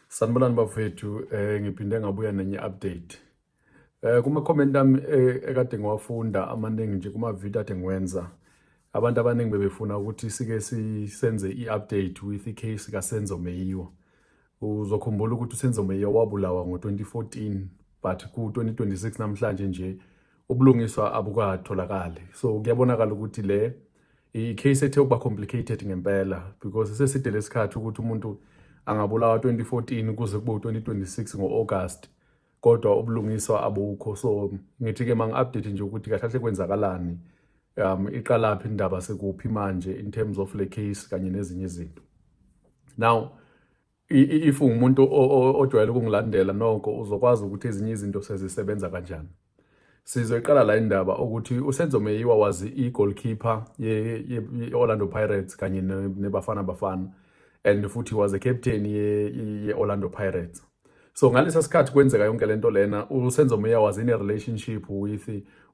Sanibonani bafethu eh ngiphinde ngabuya nenye update. Eh kuma comment ami eh, ekade ngiwafunda amaningi nje kuma video ade ngiwenza. Abantu abaningi bebefuna ukuthi sike sisenze i-update with i-case kaSenzo Meyiwa. Uzokhumbula ukuthi uSenzo Meyiwa wabulawa ngo-2014 but ku-2026 namhlanje nje ubulungiswa abukatholakali. So kuyabonakala ukuthi le i-case ethe ukuba complicated ngempela because seside lesikhathi ukuthi umuntu angabulawa 2014 kuze kube u-2026 ngo-august kodwa ubulungiswa abukho so ngithi-ke ma ngi-update nje ukuthi kahle kahle kwenzakalani um iqalaphi indaba sekuphi manje in terms of le case kanye nezinye izinto now if ungumuntu ojwayele ukungilandela noko uzokwazi ukuthi ezinye izinto sezisebenza kanjani sizoyiqala la indaba ukuthi usenzo meyiwa wazi i-goalkeeper ye-orlando pirates kanye nebafana bafana and futhi was a captain ye-orlando pirates so ngalesa sikhathi kwenzeka yonke le nto lena usenzo meya was in a relationship with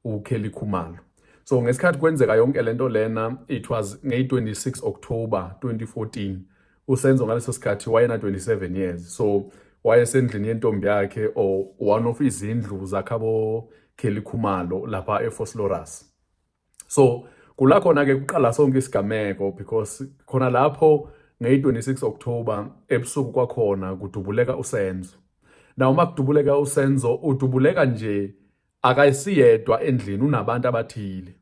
ukelly khumalo so ngesikhathi kwenzeka yonke le nto lena it was ngeyi-26 october 2014 uSenzo ngaleso sikhathi wayena 27 years so wayesendlini yentombi yakhe or one of izindlu zakhabo Kelly Khumalo lapha eFosloras so kula khona ke kuqala sonke isigameko because khona lapho ngeyi-26 October ebusuku kwakhona kudubuleka uSenzo now uma kudubuleka uSenzo udubuleka nje akayisiyedwa endlini unabantu abathile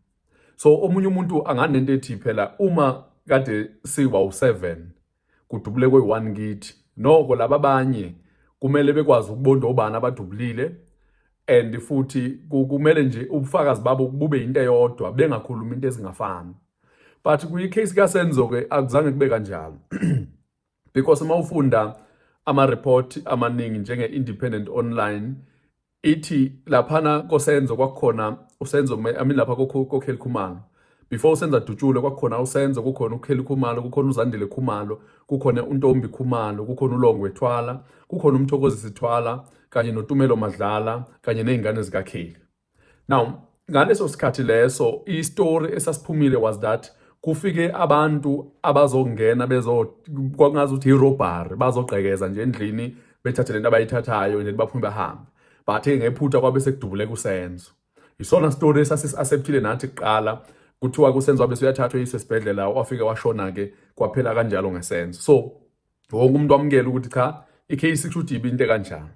so omunye umuntu anganento ethi phela uma kade siwa u7 kudubule kwe1 kithi noko laba abanye kumele bekwazi ukubonda obani abadubulile and futhi kumele nje ubufakazi babo bube into eyodwa bengakhuluma into ezingafani but kuyi case ka Senzo ke akuzange kube kanjalo because uma ufunda ama report amaningi njenge independent online ithi laphana kosenzo kwakukhona usenzo I mean lapha kokheli khumalo before usenza dutshule kwakukhona usenzo kukhona ukheli khumalo kukhona uzandile khumalo kukhona untombi khumalo kukhona ulongwe thwala kukhona umthokozisi thwala kanye notumelo madlala kanye nezingane zikakheli now ngaleso sikhathi leso istory esasiphumile was that kufike abantu abazongena bezo kwangazi ukuthi irobbery bazogqekeza nje endlini bethathe lento abayithathayo nje baphume bahambe but ngephutha kwabe sekudubule kusenzo isona story esasisaceptile nathi kuqala kuthiwa kusenzo wabe suyathathwa isesibhedlela wafike washona ke kwaphela kanjalo ngesenzo so wonke umuntu wamukela ukuthi cha i-case kusho ukuthi ibe into kanjani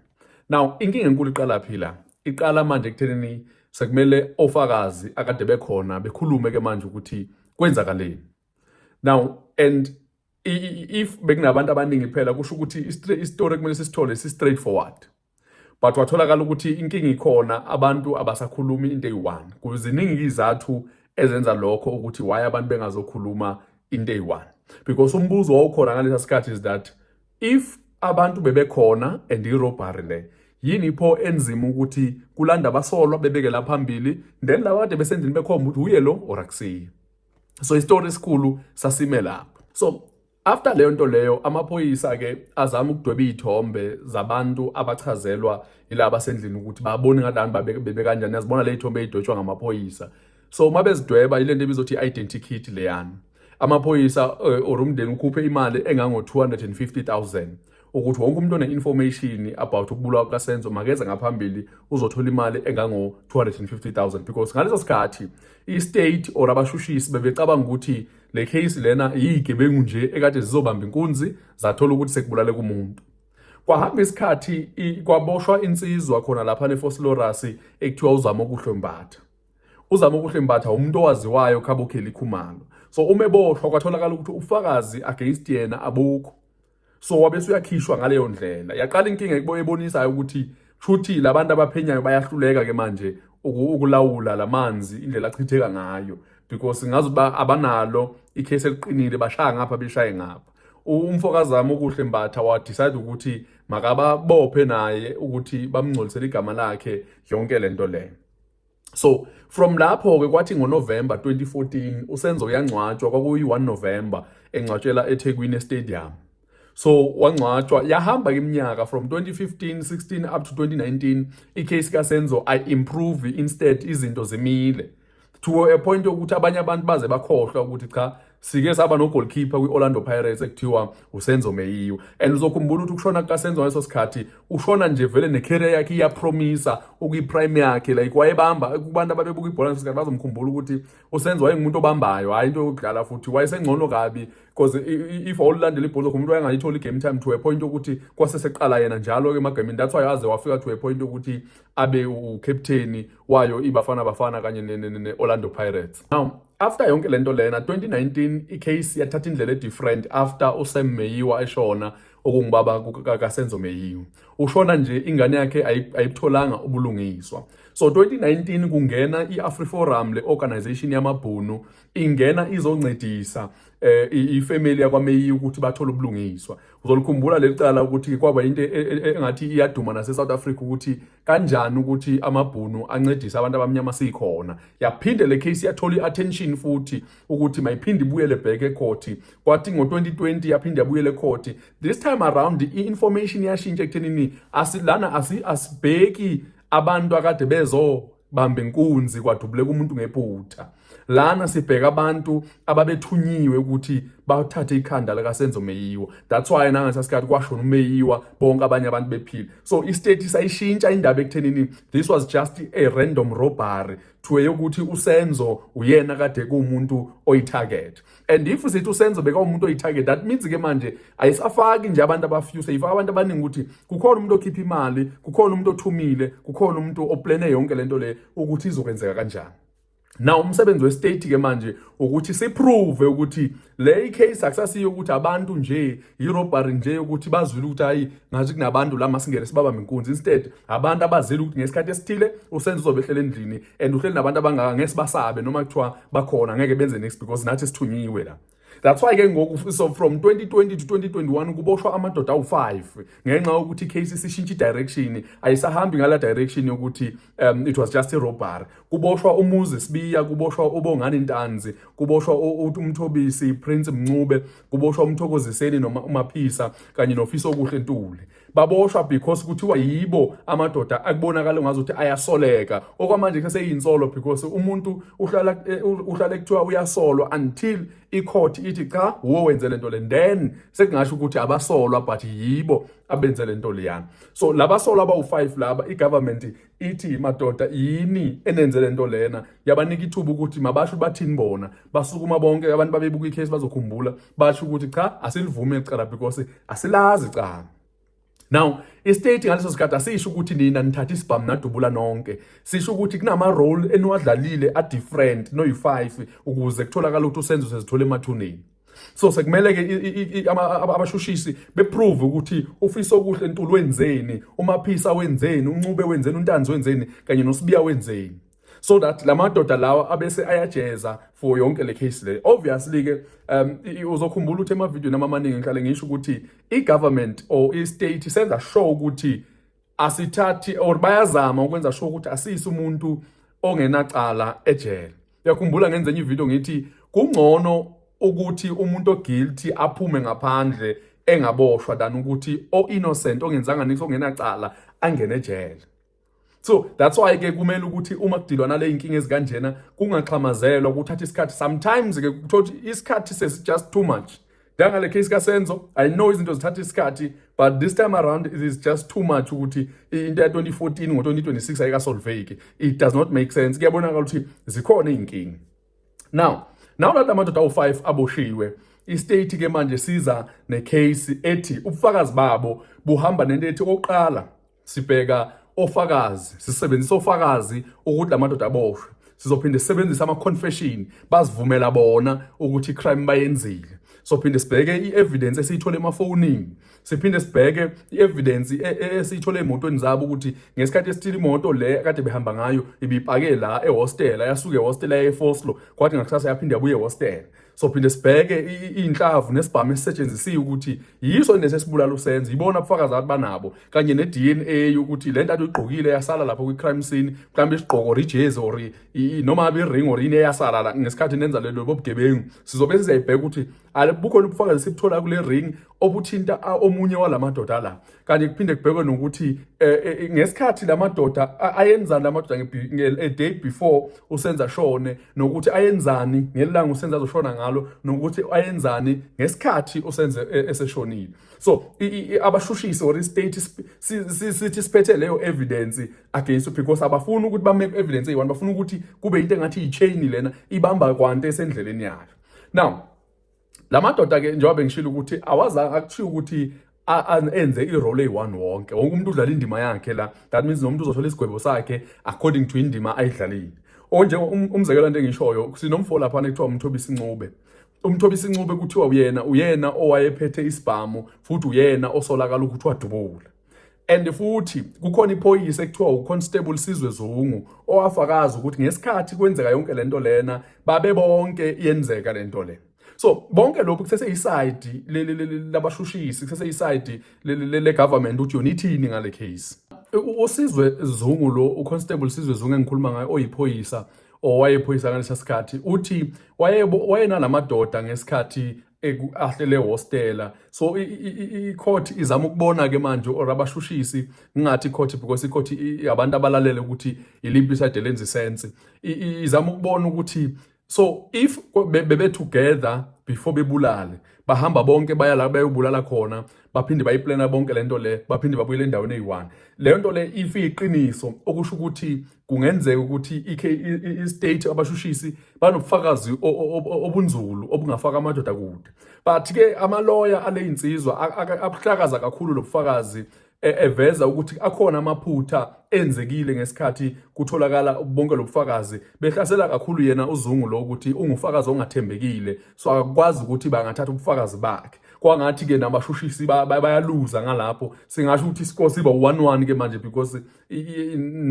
now inkinga enkulu iqala phi la iqala manje ekuthenini sekumele ofakazi akade bekhona bekhulume ke manje ukuthi kwenzakaleni now and if bekunabantu abaningi phela kusho ukuthi isitori kumele sisithole si-straight forward but watholakala ukuthi inkinga ikhona abantu abasakhulumi into eyi-one kuziningi izizathu ezenza lokho ukuthi why abantu bengazokhuluma into eyi-one because umbuzo wawukhona ngalesa sikhathi is that if abantu bebekhona and irobhari le yini pho enzima ukuthi kulanda abasolwa bebekela phambili then laba kade besendlini bekhomba ukuthi uye lo or akusiye so isitori esikhulu sasime lapho so After leyo nto leyo amaphoyisa ke azama ukudweba izithombe zabantu abachazelwa ilaba sendlini ukuthi babone ngalani babebe kanjani yazibona le izithombe ezidotshwa ngamaphoyisa so uma bezidweba ile nto ebizothi i-identity kit leyana amaphoyisa eh, or umndeni ukhuphe imali engango-250,000 ukuthi wonke umuntu one-information about ukubulawa kukasenzo makeze ngaphambili uzothola imali engango-250000 because ngaleso sikhathi i-state or abashushisi bebecabanga ukuthi le case lena yiyigebengu nje ekade zizobamba inkunzi zathola ukuthi sekubulale kumuntu kwahamba isikhathi kwaboshwa insizwa khona lapha nefosilorasi ekuthiwa uzama okuhle mbatha uzama okuhle mbatha umuntu owaziwayo khabokheli khumalo so uma eboshwa kwatholakala ukuthi ubufakazi against yena abukho so wabe suyakhishwa ngaleyo ndlela yaqala inkinga ekubo ebonisayo ukuthi shuthi labantu abaphenyayo bayahluleka ke manje ukulawula lamanzi indlela achitheka ngayo because ngazi ba abanalo icase eliqinile bashaya ngapha beshaye ngapha umfokazami okuhle mbatha wa decide ukuthi makababophe naye ukuthi bamngcolisele igama lakhe yonke lento le so from lapho ke kwathi ngoNovember 2014 uSenzo uyangcwatshwa kwakuyi-1 November engcwatshela eThekwini Stadium so wangcwatshwa yahamba iminyaka from 2015 16 up to 2019 icase kaSenzo i improve instead izinto zimile to a point yokuthi abanye abantu baze bakhohlwa ukuthi cha sike saba no-goalkeeper kwi-orlando pirates ekuthiwa usenzo meyiwa and uzokhumbula ukuthi ukushona kukasenzo ngaleso sikhathi ushona nje vele ne-career yakhe iyapromisa ukuyi-prime yakhe like wayebamba kubantu ababebuka ibhola ngaleso sikhathi bazomkhumbula ukuthi usenzo wayengumuntu obambayo hhayi into yokudlala futhi wayesengcono kabi because if awulilandela ibhola umuntu wayengayitholi i-game time to a point yokuthi kwase seqala yena njalo-ke emagamini that's why aze wafika to a point yokuthi abe ukapteni wayo ibafana bafana kanye ne-orlando pirates now after yonke lento lena 2019 icase yathatha indlela edifferent after usam meyiwa eshona okungubaba kasenzo meyiwa ushona nje ingane yakhe ayibutholanga ubulungiswa so 2019 kungena i-afriforum le organization yamabhunu ingena izoncedisa um ifamily yakwameyiwa ukuthi bathole ubulungiswa Uzolikhumbula leli cala ukuthi kwaba into e, e, e, engathi iyaduma nase-South Africa ukuthi kanjani ukuthi amabhunu ancedise abantu abamnyama sikhona. Yaphinde le case yathola i-attention futhi ukuthi mayiphinde ibuyele back ekhoti. Kwathi ngo-2020 yaphinde yabuyela ekhoti. This time around i-information yashintsha ekuthenini asilana asibheki abantu akade bezo bamba inkunzi kwadubuleka umuntu ngephutha lana sibheka abantu ababethunyiwe ukuthi bathathe ikhanda lakasenzo meyiwa that's why nangasa sikhathi kwashona umeyiwa bonke abanye abantu bephila so istate sayishintsha indaba ekuthenini this was just a random robbery to eyokuthi usenzo uyena kade kuumuntu oyitarget and if sithi usenzo bekawumuntu oyi-target that means ke manje ayisafaki nje abantu abafuse ifaka abantu abaningi ukuthi kukhona umuntu okhipha imali kukhona umuntu othumile kukhona umuntu oplane yonke le nto le ukuthi izokwenzeka kanjani na umsebenzi westate ke manje ukuthi siprove ukuthi le icase akusasiyo ukuthi abantu nje irobbery nje ukuthi bazwile ukuthi hayi ngathi kunabantu la masingene sibaba menkunzi instead abantu abazile ukuthi ngesikhathi esithile usenze uzobehlela endlini and uhleli nabantu abangaka ngeke sibasabe noma kuthiwa bakhona ngeke benze next because nathi sithunyiwe la that's why ke ngoku so from 2020 to 2021 kuboshwa amadoda awu-5 ngenxa yokuthi icase isishintsha i-direction ayisahambi ngala direction yokuthi um, it was just irobbery kuboshwa umuzi sibiya kuboshwa ubongani ntanzi kuboshwa umthobisi prince mncube kuboshwa umthokoziseni noma umaphisa kanye nofisa okuhle ntuli baboshwa because kuthiwa yibo amadoda akubonakala ngazuthi ayasoleka okwamanje ke seyinsolo because umuntu uhlala eh, uhlala kuthiwa uyasolwa until icourt ithi cha wo wenze lento le then sekungasho ukuthi abasolwa but yibo abenze lento leyana so labasolwa abawu5 laba igovernment ithi madoda yini enenze le nto lena yabanika ithuba ukuthi mabasho bathini bona basukuma bonke abantu babebuka ikhesi bazokhumbula basho ukuthi cha asilivume icala because asilazi canga now istate ngaleso sikhathi asisho ukuthi nina nithatha isibhamu nadubula nonke sisho ukuthi kunama-role eniwadlalile a-different noyi-five ukuze kutholakala ukuthi usenzo sezithole emathuneni so sekumele ke abashushisi beprove ukuthi ufisa okuhle entulu wenzeni umaphisa wenzeni uncube wenzeni untanzi wenzeni kanye nosibiya wenzeni so that lamadoda lawa abese ayajeza for yonke le case le obviously ke um uzokhumbula ukuthi emavideo namaningi ngihlale ngisho ukuthi i-government or i-state senza sure ukuthi asithathi or bayazama ukwenza sure ukuthi asiyise umuntu ongenacala ejele uyakhumbula ngenze enye ivideo ngithi kungcono ukuthi umuntu oguilty aphume ngaphandle engaboshwa than ukuthi o-innocent ongenzanga nithi ongenacala angene ejele so that's why ke kumele ukuthi uma kudilwa nale inkinga ezikanjena kungaxhamazelwa kuthatha isikhathi sometimes ke kuthothi isikhathi sesi just too much njengale case kasenzo i know izinto zithatha isikhathi but this time around it is just too much ukuthi into ya 2014 ngo-2026 ayikasolveki it does not make sense kuyabonakala ukuthi zikhona iy'nkinga now nawo lathi amadoda awu-5 aboshiwe istate ke manje siza necase ethi ubufakazi babo buhamba nento ethi oqala sibheka ofakazi sisebenzisa ofakazi ukuthi lamadoda aboshwe sizophinde sisebenzise ama-confession bazivumela bona ukuthi i-crime bayenzile sophinde sibheke i-evidence esiyithole emafonini siphinde sibheke i-evidence e, e, esiyithole emotweni zabo ukuthi ngesikhathi esithile imoto le kade behamba ngayo ibipake la ehostela yasuke ehostela yaye-foslo kwathi ngakusasa yaphinde yabuye ehostela sophinde sibheke iy'nhlavu nesibhamu esisetshenzisiwe ukuthi yiso lesi esibulala usenzo yibona ubufakazi abantu banabo kanye ne-dna ukuthi le nto atuyigqokile yasala lapho kwi-crime scene mhlawumbe isigqoko or ijezi or noma abe iring or yini eyasala ngesikhathi nenza lelo bobugebengu sizobe sizayibheka ukuthi bukhona ubufakazi esibutholayo kule ring obuthinta omunye walamadoda la kanti kuphinde kubhekwe nokuthi eh, eh, eh, ngesikhathi lamadoda ayenzani lamadoda a day before usenza shone nokuthi ayenzani ngelanga usenza azoshona ngalo nokuthi ayenzani ngesikhathi usenze eseshonile so abashushisi or state sithi siphethe leyo evidence against because abafuni ukuthi bame evidence eyi-one bafuna ukuthi kube into engathi yi-chain lena ibamba kwante esendleleni yayo now la madoda ke njengoba bengishilo ukuthi awazange akuthiya ukuthi enze i-role eyi-one wonke wonke umuntu udlala indima yakhe la that means nomuntu uzothola isigwebo sakhe according to indima ayidlalile onje um, umzekelo nto engishoyo sinomfo laphana ekuthiwa umthobisa incube umthobisa incube kuthiwa uyena uyena owayephethe isibhamu futhi uyena osolakala ukuthi wadubula and futhi kukhona iphoyisa ekuthiwa uConstable Sizwe Zungu owafakaza ukuthi ngesikhathi kwenzeka yonke lento lena babe bonke yenzeka lento le so bonke lokhu kusese isayidi labashushisi kusese isayidi le government ukuthi yona ithini ngale case uSizwe Zungu lo uConstable Sizwe Zungu engikhuluma ngaye oyiphoyisa owayephoyisa ngalesa sikhathi uthi wayenalamadoda ngesikhathi ekuahle le hostela so i court izama ukubona ke manje or abashushisi ngingathi court because i court abantu abalalele ukuthi iliphi side lenza sense izama ukubona ukuthi so if bebe together before bebulale bahamba bonke baya la bayobulala khona baphinde bayiplana bonke lento le baphinde babuyele endaweni eyi-one leyo nto le if iyiqiniso okusho ukuthi kungenzeka ukuthi i-state abashushisi banobufakazi obunzulu obungafaka amadoda kude but ke amaloya aleyinsizwa abuhlakaza kakhulu lobufakazi e, eveza ukuthi akhona amaphutha enzekile ngesikhathi kutholakala bonke lobufakazi behlasela kakhulu yena uzungu lo ukuthi ungufakazi ongathembekile so akakwazi ukuthi bangathatha ubufakazi bakhe kwangathi ke nabashushisi bayaluza ngalapho singasho ukuthi isikosiba 1-1 ke manje because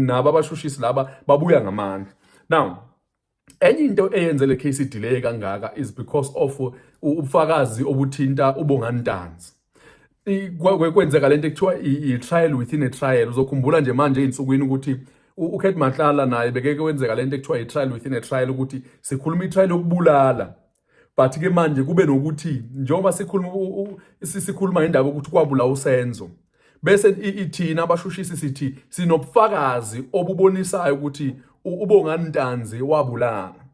nabo abashushisi laba babuya ngamandla now enye into eyenze le case delay kangaka is because of ubufakazi obuthinta ubongani ntanzi kwenzeka lento ekuthiwa i-trial within a trial uzokhumbula nje manje ey'nsukwini ukuthi ukhet mahlala naye bekeke wenzeka lento ekuthiwa i-trial within a trial ukuthi sikhuluma i-trial yokubulala but ke manje kube nokuthi njengoba sikhuluma sikhuluma ngendaba ukuthi kwabula usenzo bese ithina abashushisi sithi sinobufakazi obubonisayo ukuthi ubongani ntanzi wabulala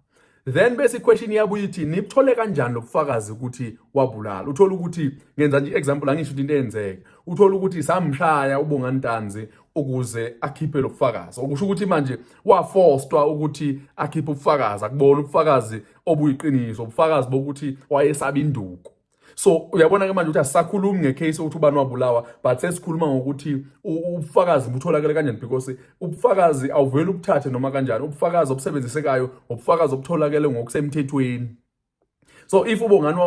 then bese iquestion yabuya ithi nibthole kanjani lobufakazi ukuthi wabulala uthola ukuthi ngenza nje example angisho into eyenzeke uthola ukuthi samshaya ubongani ntanzi ukuze akhiphe lobufakazi okusho ukuthi manje waforcedwa ukuthi akhiphe ubufakazi akubona ubufakazi obuyiqiniso ubufakazi bokuthi wayesaba induku so uyabona-ke manje ukuthi asisakhulumi ngecase ukuthi ubani wabulawa but sesikhuluma ngokuthi ubufakazi butholakele kanjani because ubufakazi awuveli ubuthathe noma kanjani ubufakazi obusebenzisekayo ubufakazi obutholakele ngokusemthethweni so if ubongani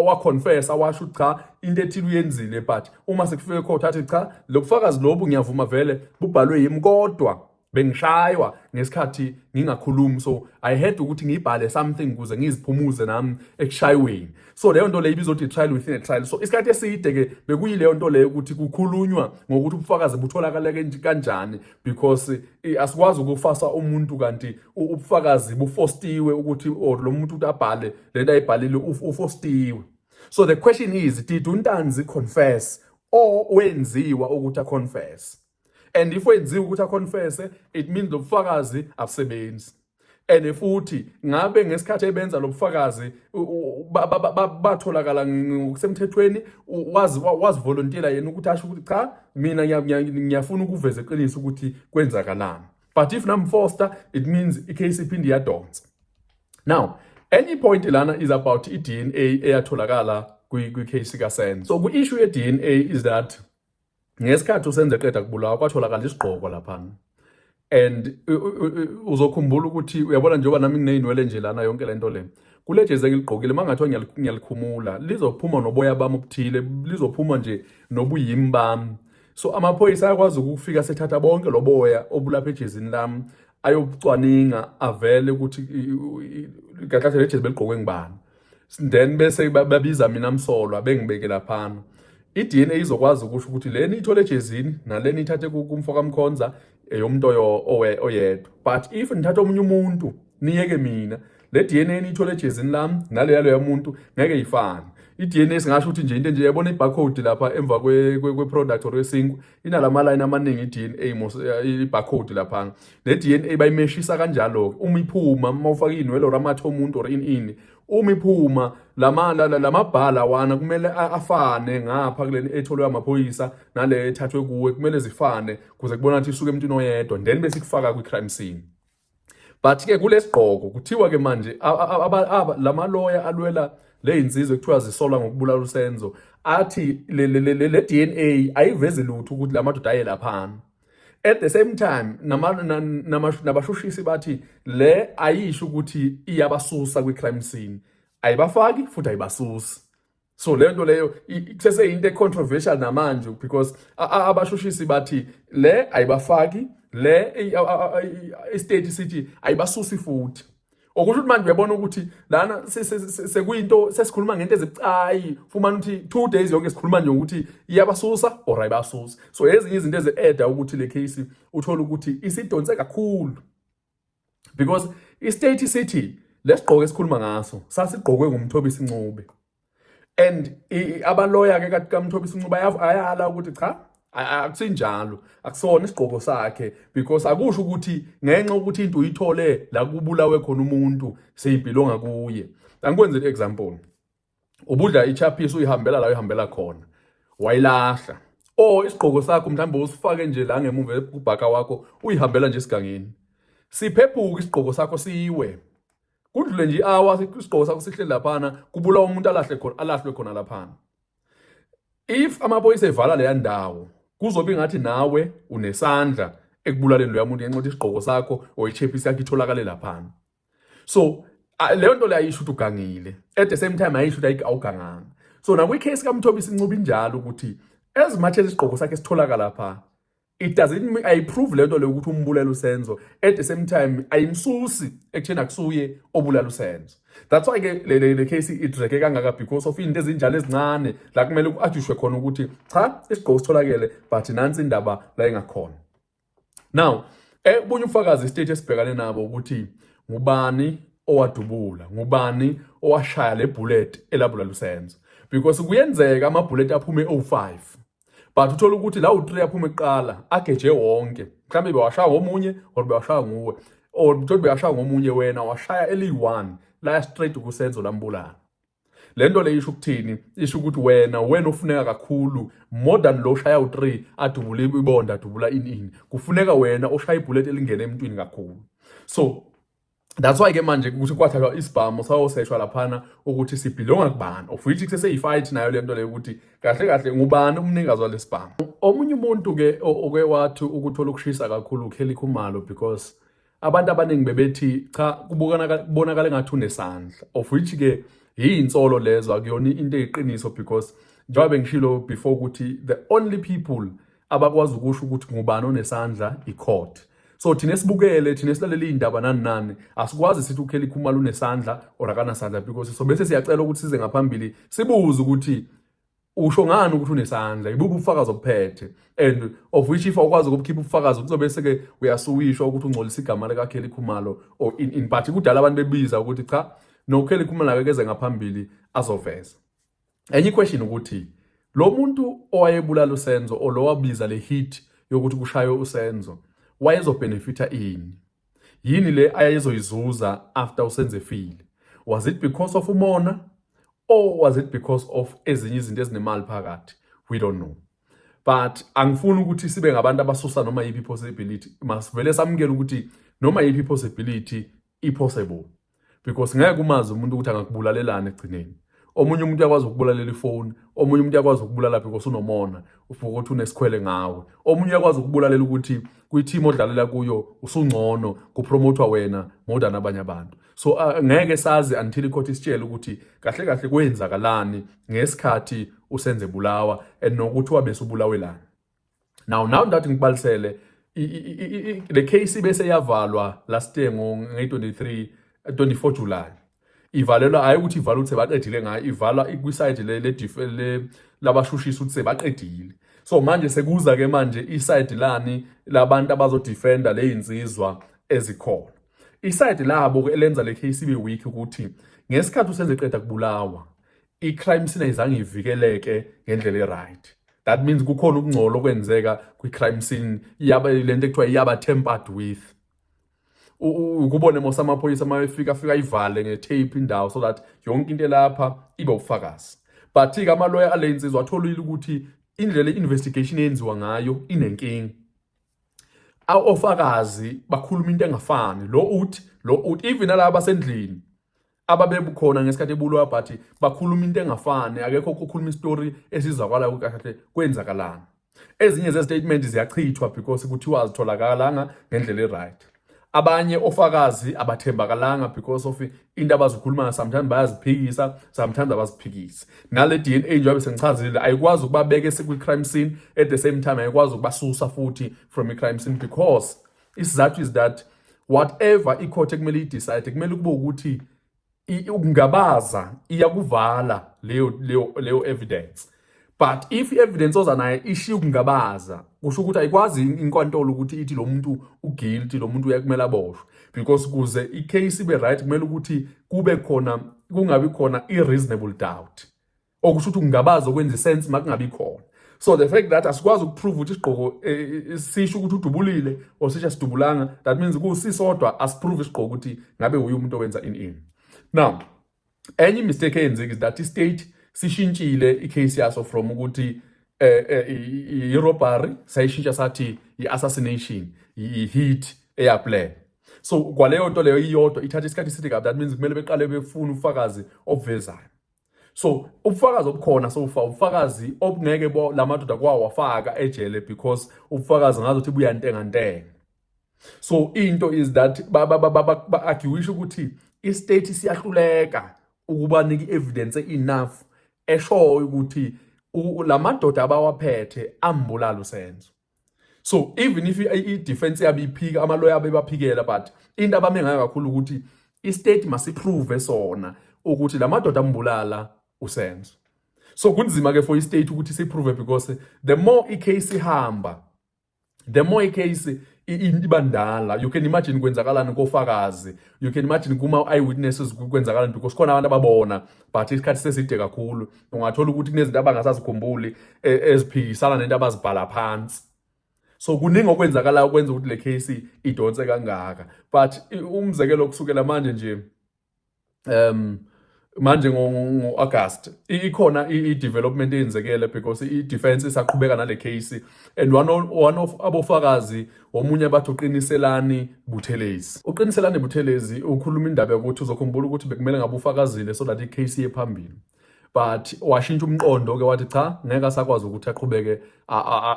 waconfessa washo ukuthi cha into ethile uyenzile but uma sekufike ecourt athi cha lobufakazi lobu ngiyavuma vele bubhalwe yimi kodwa bengishaywa ngesikhathi ngingakhulumi so i had ukuthi ngibhale something kuze ngiziphumuze nami ekushayweni so leyo nto leyo ibizothi trial within a trial so isikhathi eside ke bekuyileyo nto leyo ukuthi kukhulunywa ngokuthi ubufakazi butholakala kanjani because eh, asikwazi ukufasa umuntu kanti ubufakazi bufostiwe ukuthi or lo muntu ukuthi abhale lento ayibhalile ufostiwe so the question is did untanzi confess or wenziwa ukuthi aconfess and if wenziwe ukuthi aconfesse it means lo bufakazi abusebenzi and futhi ngabe ngesikhathi ebenza lo bufakazi batholakala ngokusemthethweni wazivolontiela yena ukuthi asho ukuthi cha mina ngiyafuna ukuveza iqiniso ukuthi kwenzakalani but if namfoster it means icase iphinde iyadonsa now enye point lana is about i-dna eyatholakala kwi-case kasenzo so kwi-issue ye-dna is that ngesikhathi usenze qeda kubulawa kwatholakala isigqoko laphana and uzokhumbula ukuthi uyabona njengoba nami ngineyinwele nje lana yonke le nto le kule jezi engiligqokile uma ngathiwa ngiyalikhumula lizophuma noboya bami obuthile lizophuma nje nobuyimi bami so amaphoyisa ayakwazi ukufika sethatha bonke loboya obulapha ejezini lami ayobucwaninga avele ukuthi kahle kahle lejezi beligqokwe ngibani then bese babiza mina msolwa bengibeke laphana i-DNA izokwazi ukusho ukuthi leni ithole ejezini naleni ithathe kumfo kamkhonza eyomntu oyedwa but if nithatha omunye umuntu niyeke mina le DNA niyithole ejezini lami nale yaloya muntu ngeke ifane i-DNA singasho ukuthi nje into nje yabona i-barcode lapha emva kwe-product or yesinkwa inalama line amaningi iDNA mos ibarcode lapha neDNA bayimeshisa kanjalo ke uma iphuma uma ufaka inwele or amathe omuntu or ini ini uma iphuma lama lamabhala wana kumele afane ngapha kuleni etholwe amaphoyisa nale ethathwe kuwe kumele zifane kuze kubona ukuthi isuke emntwini oyedwa then bese kufaka kwi crime scene but ke kulesigqoko kuthiwa ke manje lama lawyer alwela leyinsizwe kuthiwa zisolwa ngokubulala uSenzo athi le le DNA ayivezi lutho ukuthi lamadoda aye laphana at the same time nabashushisi bathi le ayisho ukuthi iyabasusa kwi crime scene ayibafaki futhi ayibasusi so le nto leyo seseyinto econtroversial namanje because abashushisi bathi le ayibafaki le istate sithi ayibasusi futhi okusho ukuthi manje uyabona ukuthi lana sekuyinto sesikhuluma ngento ezibucayi fumana ukuthi two days yonke sikhuluma nje ukuthi iyabasusa or ayibasusi so ezinye izinto ezi-eda ukuthi le case uthole ukuthi isidonse kakhulu because istate sithi lesigqoko esikhuluma ngaso sasigqokwe ngumthobisi ncube and abaloya ke kathi kamthobisi ncube ayala ukuthi cha akusinjalo akusona isigqoko sakhe because akusho ukuthi ngenxa ukuthi into uyithole la kubulawe khona umuntu seyibhilonga kuye angikwenzele example ubudla ichaphisi uyihambela la uyihambela khona wayilahla o oh, isigqoko sakho mhlawumbe usifake nje la ngemuva kubhaka wakho uyihambela nje esigangeni siphephuka isigqoko sakho siwe kudlule nje awa isigqoko sakho sihle laphana kubulawa umuntu alahle khona alahlwe khona laphana if amaphoyisa evala leya ndawo kuzobe ngathi nawe unesandla ekubulaleni loya muntu ngenxa yokuthi isigqoko sakho or ichephisi yakho itholakale laphana so leyo nto leyo ayisho ukuthi ugangile at the same time ayisho ukuthi awuganganga so nakwi-case kamthobisi incuba injalo ukuthi as much as isigqoko sakhe sitholakala phaa it doesn't mean ayiprove le nto leyo ukuthi umbulala usenzo at the same time ayimsusi ekutheni akusuye obulala usenzo that's why ke le, le, le case idreke kangaka because of into ezinjalo ezincane la kumele ku-adishwe khona ukuthi cha isigqoko sitholakele but nansi indaba la engakhona now eh, ubunye ufakazi istate esibhekane nabo ukuthi ngubani owadubula ngubani owashaya le bullet elabula lusenzo because kuyenzeka ama bullet aphume o5 but uthola ukuthi la u3 aphume kuqala ageje wonke mhlambe bewashaya ngomunye or bewashaya nguwe or mtholi beyashaya ngomunye wena washaya eliyi-one laya straight kusenzo lambulala le nto le isho ukuthini isho ukuthi wena wena ofuneka kakhulu more than lo shaya u-3 adubule ibonda adubula ini ini kufuneka wena oshaya ibhuleti elingene emntwini kakhulu so that's why ke manje ukuthi kwathathwa isibhamu sayoseshwa laphana ukuthi sibhilonga kubani of which kuseseyifight nayo le nto leyo ukuthi kahle kahle ngubani umnikazi walesibhamu omunye umuntu ke oke wathi ukuthola ukushisa kakhulu uKelly Khumalo because abantu abaningi bebethi cha kubonakala engathi unesandla of which ke yiyinsolo lezo akuyona into eyiqiniso because njengoba bengishilo before ukuthi the only people abakwazi ukusho ukuthi ngubani onesandla i-court so thina sibukele thina silalele iy'ndaba nani nani asikwazi sithi ukheli khumalo unesandla or akanasandla because so bese siyacela ukuthi size ngaphambili sibuze ukuthi usho ngani ukuthi unesandla ibubu ubufakazi obuphethe and of which if awukwazi ukubukhipha ubufakazi kuzobe seke uyasuwishwa ukuthi ungcolisa igama likaKelly Khumalo or in, in part kudala abantu bebiza ukuthi cha no Kelly Khumalo akekeze ngaphambili azoveza enye question ukuthi lo muntu owayebulala uSenzo olowabiza le hit yokuthi kushaye uSenzo wayezobenefita ini Yini le ayezoyizuza after usenzefile? Was it because of umona or was it because of ezinye izinto ezinemali phakathi? We don't know. But angifuni ukuthi sibe ngabantu abasusa noma yipi possibility. Masivele samukele ukuthi noma yipi possibility i possible. because ngeke umazi umuntu ukuthi angakubulalelani egcineni omunye umuntu uyakwazi ukubulalela ifoni omunye umuntu uyakwazi ukubulala because unomona ufuka ukuthi unesikhwele ngawe omunye uyakwazi ukubulalela ukuthi kwi-team odlalela kuyo usungcono kupromothwa wena more than abanye abantu so uh, ngeke sazi until ikhotha isitshele ukuthi kahle kahle kwenzakalani ngesikhathi usenze bulawa and nokuthi wabe subulawelani now now that ngibalisele le case bese yavalwa last year ngo 23 24 July ivalelwa hayi ukuthi ivala ukuthi baqedile ngayo ivala kwi side le le labashushisa ukuthi sebaqedile so manje sekuza ke manje i side lani labantu abazo defender le insizwa ezikhona i side labo ke elenza le case ibe weak ukuthi ngesikhathi usenze qeda kubulawa i-crime scene ayizange ivikeleke ngendlela e-right that means kukhona ukungcola okwenzeka kwi-crime scene yaba le nto ekuthiwa iyaba tempered with ukubone mose amaphoyisa uma efika afika ayivale nge-tape indawo so that yonke into elapha ibe ubufakazi but-ke amaloya ale nsizwa atholile ukuthi indlela i-investigation eyenziwa ngayo inenkinga ofakazi bakhuluma into engafani lo uthi lo uthi even alaba basendlini ababebukhona ngesikhathi ebulwa bathi bakhuluma into engafani akekho okhuluma istory esizakalayo ukuthi kahle kwenzakalani ezinye zestatement ziyachithwa because kuthiwa azitholakalanga ngendlela eright abanye ofakazi abathembakalanga because of into abazikhulumayo sometimes bayaziphikisa sometimes abaziphikisi nale DNA njengoba sengichazile ayikwazi ukubabeka esikwi crime scene at the same time ayikwazi ukubasusa futhi from i crime scene because Isizathu is that whatever icourt ekumele idecide kumele kube ukuthi ukungabaza iyakuvala leyo leyo leyo evidence but if i-evidence oza naye ishiya ukungabaza kusho ukuthi ayikwazi inkantolo ukuthi ithi lo muntu uguilty lo muntu uyakumele aboshwe because kuze i-case ibe right kumele ukuthi kube khona kungabi khona i-reasonable doubt okusho ukuthi kungabaza okwenza isense uma kungabi khona so the fact that asikwazi ukuprove ukuthi isigqoko eh, eh, eh, sisho ukuthi udubulile or sisho asidubulanga that means kusisodwa asiprove isigqoko ukuthi ngabe uye umuntu owenza in in now enye imistake eyenzeki is that istate sishintshile icase yaso from ukuthi eh, eh, i-robbery sayishintsha sathi i-assassination i-hit eyaplan so kwaleyo nto leyo iyodwa ithatha isikhathi eside kabi that means kumele beqale befune ufakazi obuvezayo so ubufakazi obukhona sofa ubufakazi obungeke la madoda kwawafaka ejele because ubufakazi ngazothi buyantenga ntenga so into is that ba-arguisha ukuthi istate siyahluleka ukubanika i-evidence enough eshoyo ukuthi la madoda abawaphethe ambulala usenzo so even if i-defense yabo iphika amaloya abo ebaphikela but into abame ngayo kakhulu ukuthi istate masiprove sona ukuthi la madoda ambulala usenzo so kunzima ke for istate ukuthi siprove because the more icase ihamba the more icase iba ndala you can imagine kwenzakalani kofakazi you can imagine kuma-eyewitnesses kwenzakalani because khona abantu ababona but isikhathi seside kakhulu ungathola ukuthi kunezinto abangasazikhumbuli e, eziphikisana nento abazibhala phansi so kuningi okwenzakalayo okwenza ukuthi le case idonse kangaka but umzekelo kusukela manje nje um manje ngo-august ikhona i-development eyenzekele because i-defense isaqhubeka nale case and one of, one of abofakazi omunye bathi uqiniselani buthelezi uqiniselani buthelezi ukhuluma indaba yokuthi uzokhumbula ukuthi bekumele ngabe ufakazile so that i-case iye phambili but washintsha umqondo ke wathi cha ngeke asakwazi ukuthi aqhubeke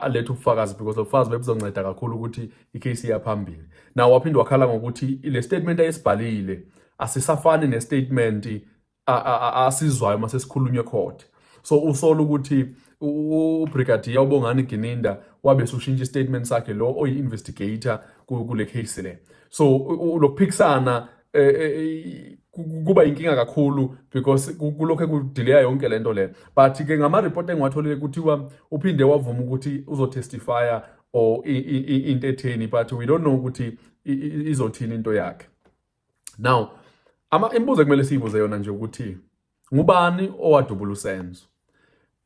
alethe ubufakazi because lobufakazi bebuzonceda kakhulu ukuthi icase iyaphambili now waphinde wakhala ngokuthi le statement ayesibhalile asisafani nestatement asizwayo uma sesikhulunywe court so usola ukuthi ubrigadier ubongani gininda wabe sushintsha istatement sakhe lo oyi-investigator kule case le so lokuphikisana eh, eh, eh, kuba inkinga kakhulu because kulokhu kudileya yonke le nto le but ke ngama-report engiwatholile kuthiwa uphinde wavuma ukuthi uzotestifya or into etheni but we don't know ukuthi izothini into yakhe now imibuzo ekumele siyibuze yona nje ukuthi Ngubani owadubula uSenzo?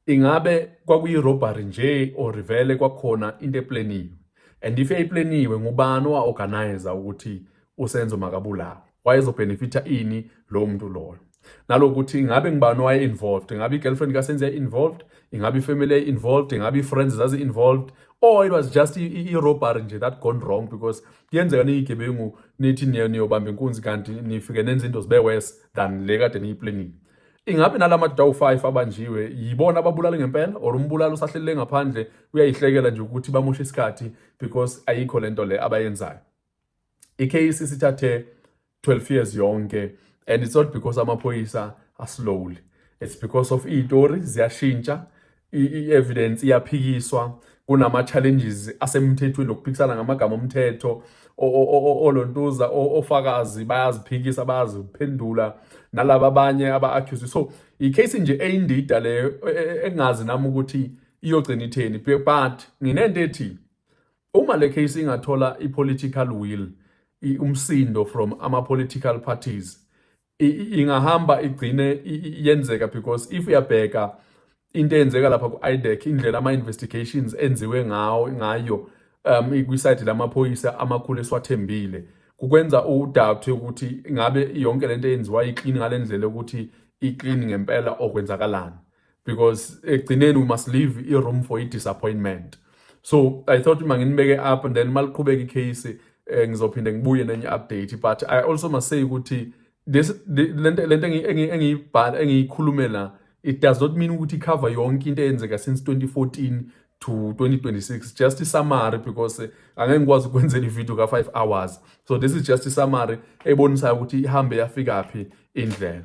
Ingabe kwakuyi-robbery nje or vele kwakhona into epleniwe? And if yayipleniwe ngubani owa-organizer ukuthi uSenzo makabulawe? Wayezobhenefitha ini lowo muntu loyo? nalokuthi ngabe ngibani waye involved ngabe i-girlfriend kasenzi yayi involved ingabe ifamily yayi involved ingabe i-friends zazi involved or it was just i-robbery nje that gone wrong because kuyenzeka niyigebengu nithi niyobamba inkunzi kanti nifike nenza into zibe worse than le kade niyiplanile ingabe nala madoda awu-five abanjiwe yibona ababulale ngempela or umbulali usahlelele ngaphandle uyayihlekela nje ukuthi bamoshe isikhathi because ayikho le nto le abayenzayo ikheyisi sithathe 12 years yonke and it's not because amaphoyisa aslowly it's because of iy'tori ziyashintsha i-evidence iyaphikiswa kunama-challenges asemthethweni lokuphikisana ngamagama omthetho olontuza ofakazi bayaziphikisa bayaziphendula nalaba abanye aba-accuse so i-case nje eyindida leyo e, e, e, engazi nami ukuthi iyogcina itheni but nginento ethi uma le case ingathola i-political will umsindo from ama-political parties ingahamba igcine yenzeka because if uyabheka into eyenzeka lapha ku-IDEC indlela ama-investigations enziwe ngawo ngayo um kwisayidi lamaphoyisa amakhulu esiwathembile kukwenza udabthe ukuthi ngabe yonke lento eyenziwa iclean ngalendlela ukuthi iclean ngempela okwenzakalana because ekugcineni we must leave i-room for i-disappointment so i thought uma nginibeke up and then uma liqhubeka icase eh, ngizophinde ngibuye nenye update but i also must say ukuthi lento lento engiyibhala engiyikhulumela it does not mean ukuthi cover yonke into eyenzeka since 2014 to 2026 just isummary because eh, angeke ngikwazi ukwenzela ivideo ka 5 hours so this is just isummary ebonisayo ukuthi ihambe yafika phi indlela